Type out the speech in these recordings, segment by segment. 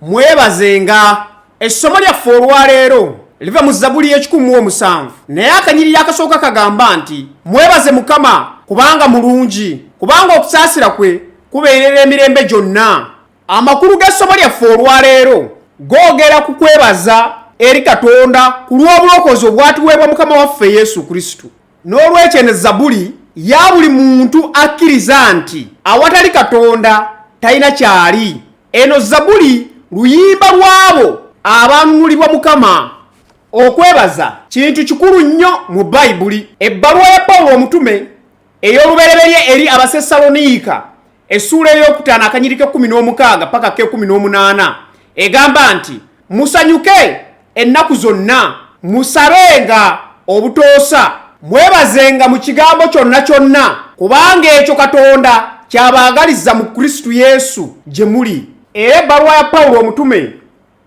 Mwebazenga. Essomo lyaffe olwaleero liva mu Zabuli y'ekikumi mu omusanvu, naye akanyiriri akasooka kagamba nti mwebaze Mukama kubanga mulungi, kubanga okusaasira kwe kubeerera emirembe gyonna. Amakulu g'essomo lyaffe olwaleero googera ku kwebaza eri Katonda ku lw'obulokozi obwatuweebwa Mukama waffe Yesu Kristo. n'olwekyo eno zabuli ya buli muntu akkiriza nti awatali katonda talina kyali eno zabuli luyimba lw'abo abanunulibwa mukama okwebaza kintu kikulu nnyo mu bayibuli ebbaluwa ya pawulo omutume ey'olubereberye eri abasessaloniika essuula ey'okutaano akanyiriko ekkumi n'omukaaga paka k'ekumi n'omunaana egamba nti musanyuke ennaku zonna musabenga obutoosa mwebazenga mu kigambo kyonna kyonna kubanga ekyo katonda kyabaagaliza mu kristu yesu gye muli era ebbaluwa ya pawulo omutume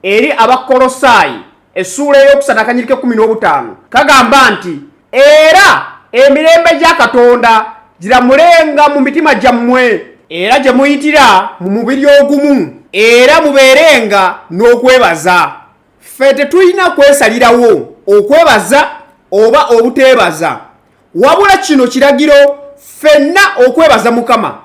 eri abakkolosaayi essuula ey'okusatu akanyiriko ekkumi n'obutaano kagamba nti era emirembe gya katonda giramulenga mu mitima gyammwe era gye muyitira mu mubiri ogumu era mubeerenga n'okwebaza ffe tetulina kwesalirawo okwebaza oba obuteebaza wabula kino kiragiro ffenna okwebaza mukama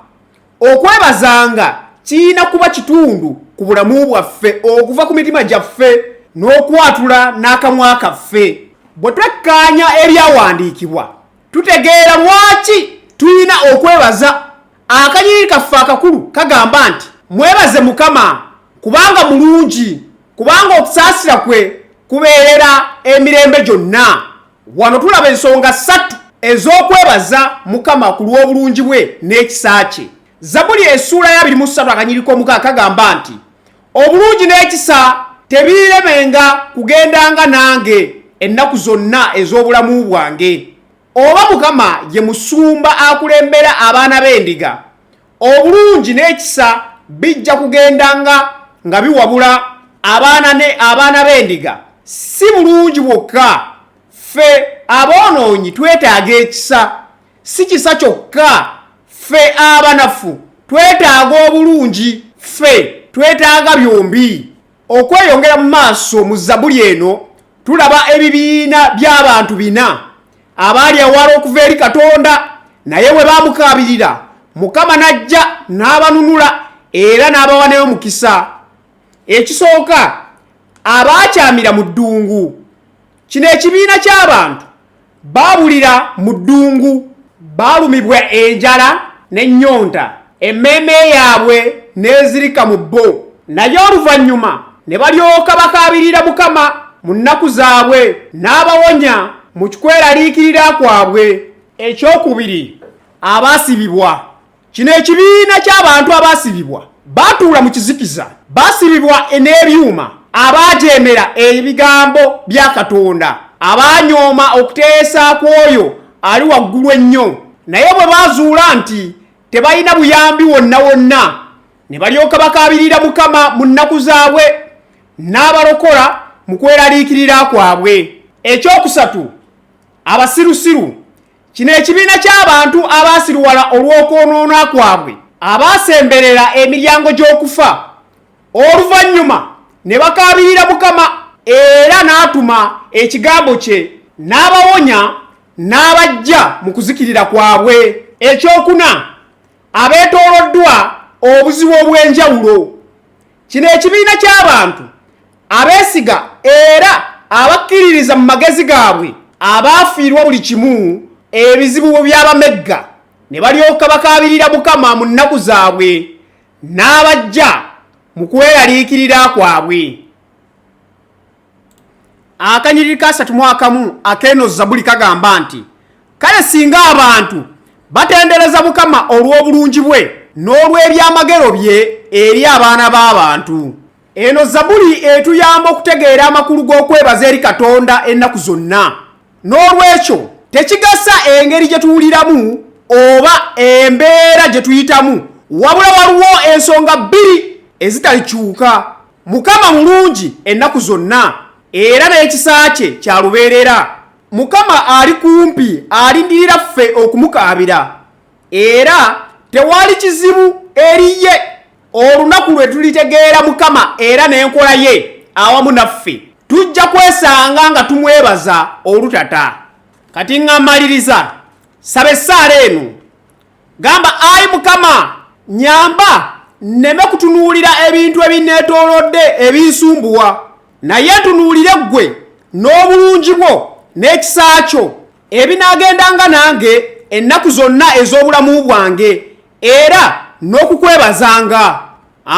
Okwebazanga kirina kuba kitundu ku bulamu bwaffe okuva ku mitima gyaffe n'okwatula n'akamwa kaffe. Bwe twekkaanya ebyawandiikibwa, tutegeera lwaki tulina okwebaza. Akanyiriri kaffe akakulu kagamba nti, Mwebaze Mukama, kubanga mulungi, kubanga okusaasira kwe kubeerera emirembe gyonna. Wano tulaba ensonga ssatu ez'okwebaza Mukama ku lw'obulungi bwe n'ekisa kye. Zabuli essuula ya biri mu ssatu akanyiriko omuka kagamba nti obulungi n'ekisa tebiiremenga kugendanga nange ennaku zonna ez'obulamu bwange. Oba Mukama ye musumba akulembera abaana b'endiga, Obulungi n'ekisa bijja kugenda nga nga biwabula abaana ne abaana b'endiga. Si bulungi bwokka, ffe aboonoonyi twetaaga ekisa. Si kisa kyokka, ffe abanafu twetaaga obulungi. Ffe twetaaga byombi. okweyongera mu maaso mu zabuli eno tulaba ebibiina by'abantu bina abaali awala okuva eri katonda naye bwe baamukaabirira mukama n'ajja n'abanunula era n'abawa nayo mukisa ekisooka abaakyamira mu ddungu Kino ekibiina ky'abantu baabulira mu ddungu, baalumibwa enjala n'ennyonta, emmeeme yaabwe n'ezirika mu bo, naye oluvannyuma ne balyoka bakaabirira Mukama mu nnaku zaabwe, n'abawonya mu kweraliikirira kwabwe. Ekyokubiri, abaasibibwa Kino ekibiina ky'abantu abaasibibwa baatuula mu kizikiza, baasibibwa n'ebyuma, abaajeemera ebigambo bya Katonda, abaanyooma okuteesa kw'oyo ali waggulu ennyo, naye bwe baazuula nti tebalina buyambi wonna wonna, ne balyoka bakaabirira Mukama mu nnaku zaabwe, n'abalokola mu kweraliikirira kwabwe. Ekyokusatu, abasirusiru Kino ekibiina ky'abantu abaasiruwala olw'okwonoona kwabwe abaasemberera emiryango gy'okufa oluvannyuma ne bakaabirira Mukama era n'atuma ekigambo kye n'abawonya n'abajja mu kuzikirira kwabwe. Ekyokuna, abeetooloddwa obuzibu obw'enjawulo. Kino ekibiina ky'abantu abeesiga era abakkiririza mu magezi gaabwe abaafiirwa buli kimu ebizibu bwe byabamegga ne balyoka bakaabirira mukama mu nnaku zaabwe n'abajja mu kweraliikirira kwabwe akanyiriri kasatu mu akamu akeeno zabuli kagamba nti kale singa abantu batendereza mukama olw'obulungi bwe n'olw'ebyamagero bye eri abaana b'abantu Eno Zabuli etuyamba okutegeera amakulu g'okwebaza eri Katonda ennaku zonna. N'olwekyo, tekigasa engeri gye tuwuliramu oba embeera gye tuyitamu, wabula waliwo ensonga bbiri ezitalikyuka. Mukama mulungi ennaku zonna era n'ekisa kye kya lubeerera. Mukama ali kumpi, alindirira ffe okumukaabira, era tewali kizibu eri ye. olunaku lwe tulitegeera mukama era n'enkola ye awamu naffe tujja kwesanga nga tumwebaza olutata kati nga mmaliriza saba essaala eno gamba ayi mukama nyamba nneme kutunuulira ebintu ebinneetoolodde ebinsumbuwa naye ntunuulire ggwe n'obulungi bwo n'ekisa kyo ebinaagendanga nange ennaku zonna ez'obulamu bwange era n'okukwebazanga